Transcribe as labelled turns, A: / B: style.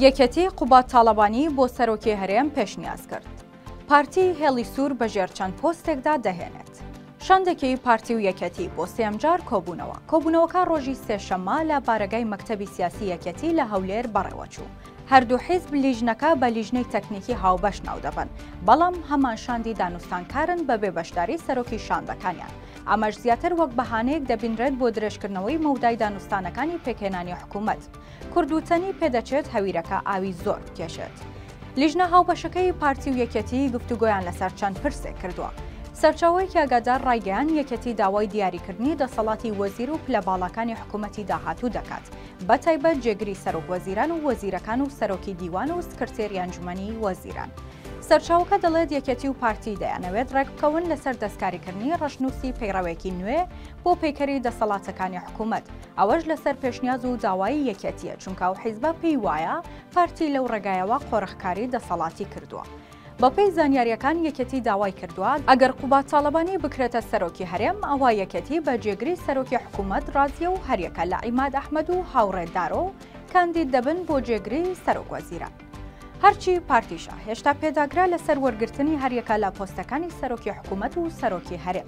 A: یەکێتی قوباد تاڵەبانی بۆ سەرۆکی هەرێم پێشنیاز کرد. پارتی هێڵی سوور بە ژێر چەند پۆستێکدا دەهێنێت. شاندێکی پارتی و یەکێتی بۆ سێیەم جار کۆبوونەوە. کۆبوونەوەکە ڕۆژی سێشەممە لە بارەگای مەکتەبی سیاسی یەکێتی لە هەولێر بەڕێوەچوو. هەردوو حیزب لیژنەکە بە لیژنەی تەکنیکی هاوبەش ناودەبەن، بەڵام هەمان شاندی دانوستانکارن بەبێ بەشداری سەرۆکی شاندەکانیان. ئەمەش زیاتر وەک بەهانەیەک دەبینرێت بۆ درێژکردنەوەی مەودای دانوستانەکانی پێکهێنانی حکوومەت. کوردوتەنی پێدەچێت هەویرەکە ئاوی زۆر بکێشێت. لیژنە هاوبەشەکەی پارتی و یەکێتی گفتوگۆیان لەسەر چەند پرسێک کردووە. سەرچاوەیەکی ئاگادار ڕایگەیان یەکێتی داوای دیاریکردنی دەسەڵاتی وەزیر و پلە باڵاکانی حکوومەتی داهاتوو دەکات، بەتایبەت جێگری سەرۆک وەزیران و وەزیرەکان و سەرۆکی دیوان و سکرتێری ئەنجومەنی وەزیران. سەرچاوەکە دەڵێت یەکێتی و پارتی دەیانەوێت ڕێکبکەون لەسەر دەستکاریکردنی ڕەشنووسی پەیڕەوێکی نوێ بۆ پەیکەری دەسەڵاتەکانی حکوومەت، ئەوەش لەسەر پێشنیاز و داوایی یەکێتییە، چونکە ئەو حیزبە پێی وایە پارتی لەو ڕێگایەوە قۆرخکاری دەسەڵاتی کردووە. بەپێی زانیارییەکان یەکێتی داوای کردووە، ئەگەر قوباد تاڵەبانی بکرێتە سەرۆکی هەرێم، ئەوا یەکێتی بە جێگری سەرۆکی حکوومەت ڕازییە و هەریەکە لە عیماد ئەحمەد و هاوڕێ دارۆ کاندید دەبن بۆ جێگری سەرۆکوەزیران. هەرچی پارتیشە، هێشتا پێداگرە لەسەر وەرگرتنی هەریەکە لە پۆستەکانی سەرۆکی حکوومەت و سەرۆکی هەرێم،